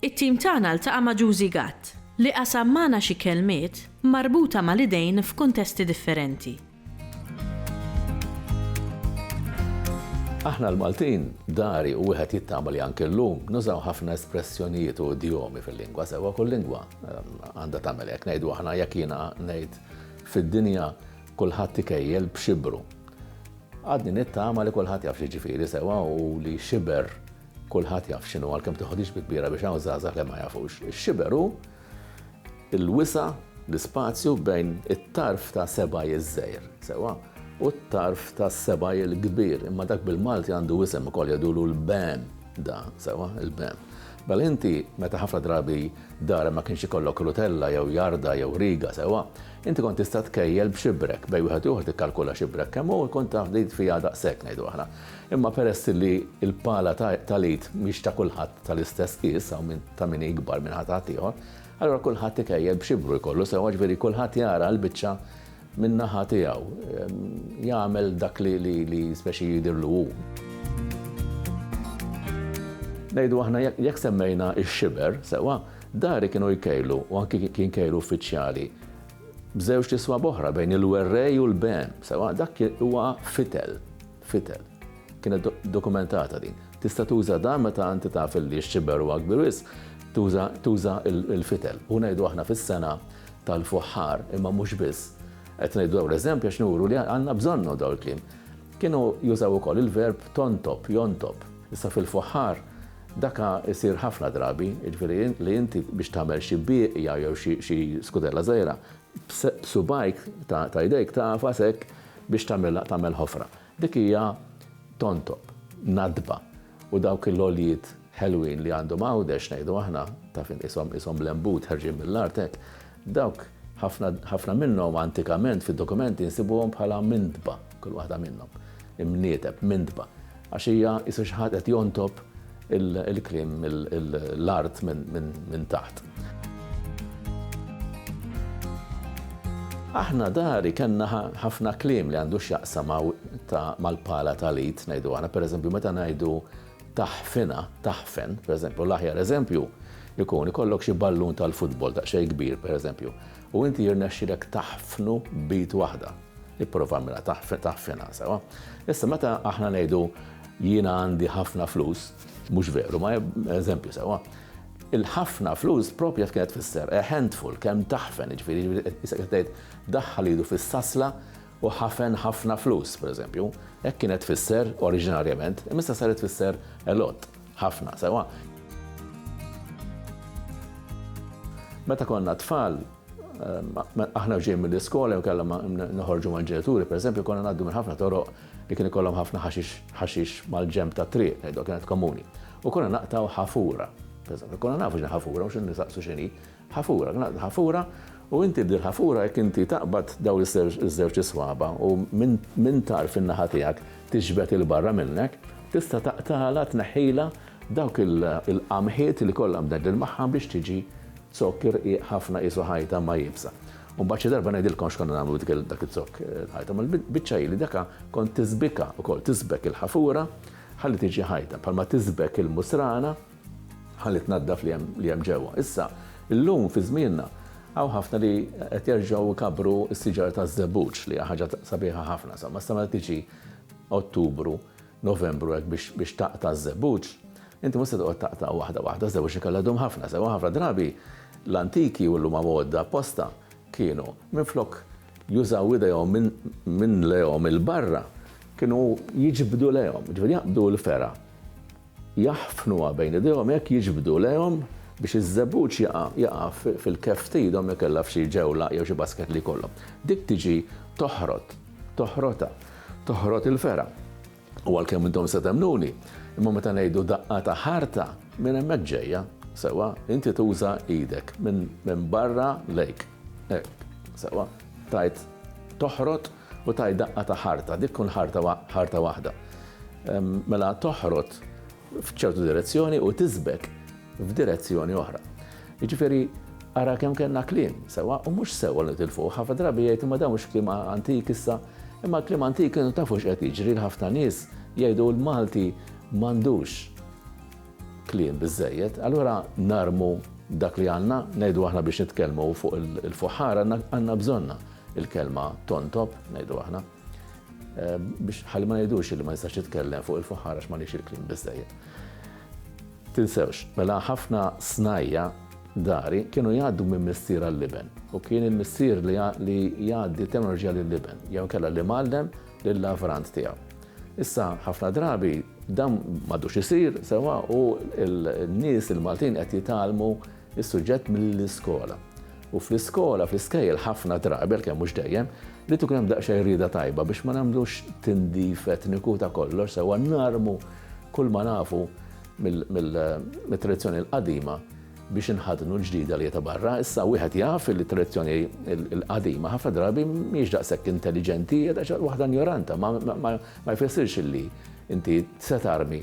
It-tim tagħna ltaqa' ma' Juzi Gatt, li qasam magħna xi kelmiet marbuta mal-idejn f'kuntesti differenti. Aħna l-Maltin, dari u wieħed jittama li anke llum, nużaw ħafna espressjonijiet u idjomi fil-lingwa, sewwa kull lingwa għandha tagħmel hekk. Ngħidu aħna jekk jiena ngħid fid-dinja kulħadd ikejjel b'xibru. Għadni nittama li kulħadd jaf xi jiġifieri sewwa u li xiber Kulħadd jaf x'inhu għalkemm tiħodix bi kbira biex hawn żgħażagħ li ma jafux. Ix-xiber hu l-wisa' l-ispazju bejn it-tarf ta' sebgħi ż-żgħir, sewwa, u t-tarf ta' sebgħi l-kbir, imma dak bil-Malti għandu isem ukoll jgħidulu l-bem da, sewwa, il-bem. Mela inti meta ħafna drabi darek ma kienx ikollok rutella jew jarda jew riga, sewwa, inti kont tista' tkejjel b'xibrek, bejn wieħed u ieħor tikkalkula xibrek kemm hu jkun taf din fiha daqshekk ngħidu aħna. Imma peress li l-pala tal-Għid mhix ta' kulħadd tal-istess qies, hawn min ta' min hi ikbar minn ħadd ieħor, allura kulħadd ikejjel b'xibru jkollu sewwa, ġifieri kulħadd jara l-biċċa min-naħa tiegħu, jagħmel dak li specie jidhirlu hu. Ngħidu aħna jekk semmejna x-xiber, sewwa, dari kienu jkejlu u anki kien kejl uffiċjali, b'żewġt iswab oħra bejn il-werrej u l-behem, sewwa dak huwa fitel, fitel. Kienet dokumentata din. Tista' tuża dan meta inti taf li x-xiber huwa kbir wisq, tuża tuża l-fitel. U ngħidu aħna fis-sena tal-fuħħar, imma mhux biss. Qed ngħidu dawn l-eżempji għax nuru li għandna bżonnhom dawn il-kliem. Kienu jużaw ukoll il-verb tontob, jontob. Issa fil-fuħħar Dak isir ħafna drabi, jiġifieri li inti biex tagħmel xi bieqja jew xi skudella żgħira, b'subgħajk ta' jdejk tagħfas hekk biex tagħmilha tagħmel ħofra. Dik hija tontob, nadba, u dawk il-għoljiet ħelwin li għandhom Għawdex ngħidu aħna, taf int qishom qishom l-għenbut ħerġin mill-art hekk, dawk ħafna ħafna minnhom antikament fid-dokumenti nsibuhom bħala mindba. kull waħda minnhom, imnieteb, mintba, għax hija isu xi ħadd qed jontob il-kliem l-art minn taħt. Aħna dari kellna ħafna kliem li għandu x'jaqsam mal-pala tal-id, ngħidu aħna, pereżempju meta ngħidu taħfina, taħfen, pereżempju l-aħjar eżempju jkun ikollok xi ballun tal-futbol daqsxejn kbir pereżempju, u inti jirnexxilek taħfnu b'id waħda. Ipprova agħmilha taħfina sewwa. Issa meta aħna ngħidu jiena għandi ħafna flus, mhux veru, ma eżempju sewwa. Il-ħafna flus propja kienet fisser a handful kemm taħfen, ġifieri issa qed tgħid daħħal idu fis-sasla u ħafen ħafna flus, pereżempju. Hekk kienet fisser oriġinarjament, imma issa saret fisser a lot, ħafna sewwa. Meta konna tfal, Aħna ġej mill-iskola jew kellha noħorġu mal-ġenituri, pereżempju konna ngħaddu minn ħafna toroq li kien ikollhom ħafna ħaxix mal-ġenb tat-triq, ngħidu kienet komuni. U konna naqtgħu ħafura. Pereżempju, konna nafu x'inhi ħafura u x'inhi nisaqsu x'inhi. Ħafura, naqtgħu ħafura u inti b'dil ħafura jekk inti taqbad dawn iż-żewġ iswaba u minn tarf in-naħa tiegħek tiġbed il-barra minnek, tista' taqtagħla tneħħilha Dawk il-qamħiet li kollha mdegdel magħha biex tiġi zokk irqiq ħafna qisu ħajta ma iebsa. U mbagħad xi darba ngħidilkom x'konna nagħmlu dik dak iz-zokk ħajta. Ma l-biċċa hi li daka kont tiżbikha wkoll, tiżbek il-ħafura ħalli tiġi ħajta, bħalma tiżbek il-musrana ħalli tnaddaf li hemm li hemm ġewwa. Issa, illum fi żmienna hawn ħafna li qed jerġgħu jkabbru s-siġar taż-żebbuġ li hija ħaġa sabiħa ħafna. Insomma, issa meta tiġi Ottubru Novembru hekk biex biex taqta' ż-żebbuġ, inti mhux se toqgħod taqta' waħda waħda, ż-żebbuġ ikellu jdum ħafna, sewwa ħafna drabi l-antiki u llum għamgħodda apposta kienu minflok jużaw idejhom minn minn lejhom 'il barra, kienu jiġbdu lejhom, jiġifieri jaqbdu l-fergħa, jaħfnuha bejn idejhom hekk jiġbdu lejhom biex iż-żebbuġ jaqa' jaqa' fil-keff t'idhom jekk kellha f'xi ġewla jew xi basket li jkollhom. Dik tiġi toħrot, toħrotha. toħrot il-fergħa. U għalkemm intom se temmnuni, imma meta ngħidu daqqa ta' ħarta, minn hemmhekk ġejja, sewwa, inti tuża idek minn barra lejk. Hekk, sewwa, tajt toħrot u tajt daqqa ta' ħarta, dik tkun ħarta waħda. Mela toħrot f'ċertu direzzjoni u tiżbek f'direzzjoni oħra. Jiġifieri ara kemm kellna kliem sewwa u mhux sewwa li tilfuh. Ħafna drabi jgħid imma dawn mhux kliem antik issa, imma kliem antik kienu tafu x'qed jiġri l-ħafna nies jgħidu l-Malti m'għandux kliem biżejjed, allura narmu dak li għandna, ngħidu aħna biex nitkellmu fuq il-fuħħar għandna bżonna il-kelma tontob, ngħidu aħna. Biex ħalli ma ngħidux li ma nistax nitkellem fuq il-fuħħar għax m'għandix il-kliem biżżejjed. Tinsewx, mela ħafna snajja dari kienu jgħaddu minn missier għall-iben u kien il-missier li jgħaddi teknoloġija lill-iben jew kella li mallem lill-lavrant tiegħu. Issa ħafna drabi dan m'għadux isir sewa u n-nies il-Maltin qed jitgħallmu is-suġġett mill-iskola. U fl-iskola, fl-iskejjel ħafna drabi, għalkemm mhux dejjem, li tkun hemm daqsxejn rieda tajba biex ma nagħmlux tindif etniku ta' kollox sewwa narmu kull ma nafu mit-tradizzjoni l-qadima biex inħadnu l-ġdida li ta' barra. Issa wieħed jaf li t-tradizzjoni l-qadima ħafna drabi mhix daqshekk intelliġenti, hija daqsxejn waħda injoranta, ma jfissirx li inti se tarmi